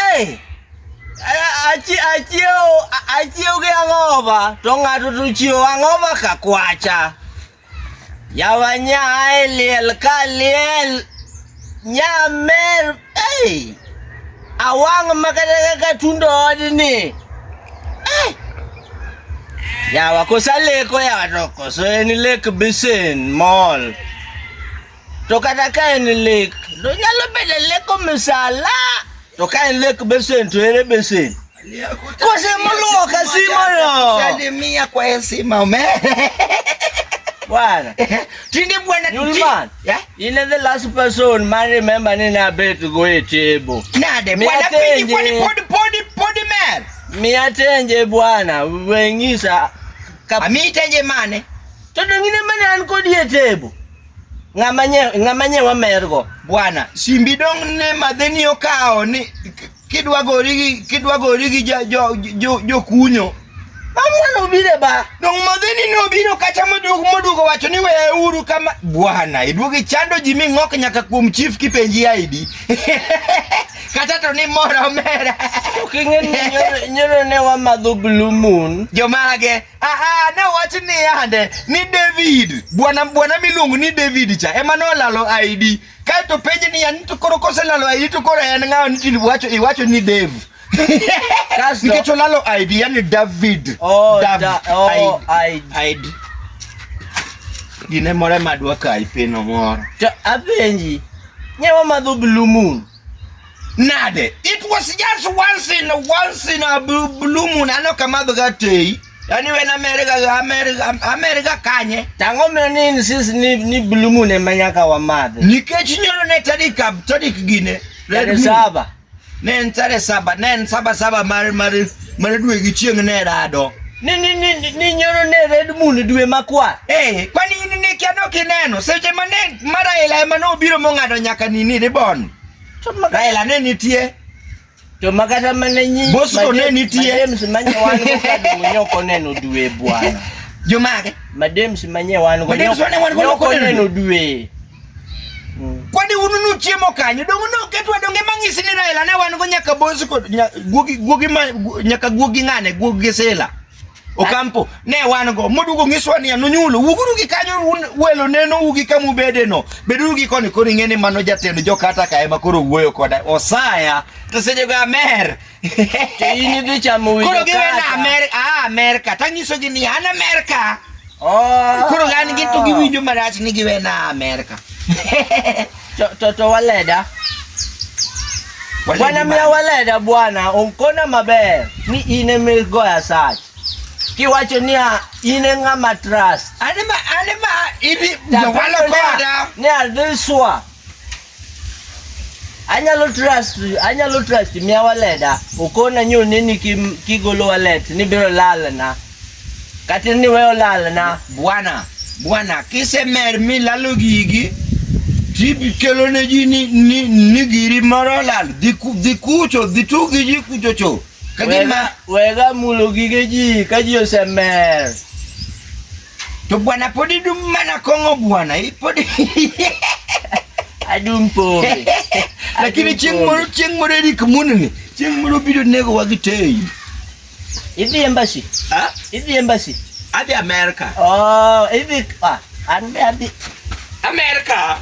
Hey! Achiew achiew gi ang'oba to ng'ato to chiew ang'oba ka kwacha. Yawa nyae liel ka liel nyamer hey! Awang' makata kaka tundo odni. Hey! Yawa kosa leko yawa to koso en lek bisen mall. To kata ka en lek, to nyalo bedo lek misala. To ka en lek besen to ere besen? Kose moluwo ka simo no. Salimia kwa heshima ume. Bwana. Tinde bwana Nulman. Yeah. You know the last person man remember ni na bet go e table. Nade bwana pidi podi podi podi podi man. Mi atenje bwana, wengisa. Ami tenje mane? Toto ngine mane an kodi e table. ng'ama nye ng'ama nye wamergo bwana simbi dong ne madheni okawo ni kidwa gori gi kidwa gori gi jo jo jo, jo kunyo Amwana ubire ba. Dong madheni no biro kata moduogo moduogo wacho ni weya uru kama bwana iduogi chando ji mi ng'ok nyaka kuom chief kipenji ID. kata to ni moro mera. King'e ni nyoro- nyoro ne wamadho blue moon. Jomage Aha, ne wach ni yande ni David, bwana bwana miluongo ni David cha ema nolalo ID. Kae to penje ni yani to koro koselalo ID to koro en ng'awa ni tini wacho iwacho ni Dev. Kasto- Nikech olalo ID yani David. Oh, Dav- da, oh, I, I, ID. Gine more madwa kai pino moro. to apenji nyewa madho blue moon Nade? It was just once in once in a blue, blue moon ano kamadho ga tei. Yaani when America ga America America kanye. Tango mna nini sisi ni ni blue moon ema nyaka wa madhe. Nikech nyono ne tarik tarik gine. Red saba. Ne en tarik saba, ne en saba saba mar mar Mana dwe gi chieng' ne rado. Ni ni ni ni- ni nyoro ne red moon dwe makwar. Eh, kwani in ne kia dok ineno seche ma ne ma Raila ema ne obiro mong'ado nyaka nini ribon. To ma- Raila ne nitie. To makata mana nyi. Bosco ne nitie. Madems manye wan go kado nyoko neno dwe bwana. Jomage. Madems manye wan go. Madems wane wan go nyoko neno dwe. Mm. Kwani unu nuchiemo kanyo dongo ne oketwa donge mang'isi ni Raila ne wan go nyaka bosi kod guogi guogi ma nyaka guogi ng'ane guogi sela Okampo ne wan go modugo ngiswa ni anunyulo wuguru gi kanyo welo neno ugi kamu bede no beduru gi koni koni ng'ene mano jatend jokata ka ema koro wuoyo koda osaya to seje ga mer to in idhi chamo winjo koro giwe na Amerika ah Amerika tanyiso gi ni an Amerika oh koro an gi to giwinjo marach ni giwe na Amerika to to, to waleda bwana miya waleda bwana onkona maber ni in eme goya sach kiwacho niya in e ng'ama trust anema anema ibi jawalo koda ni adhi swa anyalo trust anyalo trust mia waleda ukona nyu nini kim, kigolo walet ni biro lalna kata ni weyo lalna bwana bwana kisemer mi lalo gigi tikelo ne ji ni, ni, ni giri moro lal dhi kucho dhi tugi ji kucho cho kagima wega mulo gige ji ka ji osemer To bwana pod idum mana kong'o bwana, pod adum pombe. Lakini chieng' moro chieng' moro Eric Munni, chieng' moro biro nego wa gitei. Idhi embassy? Ah, idhi embassy? Adhi America. Oh, idhi ah, an be adhi America.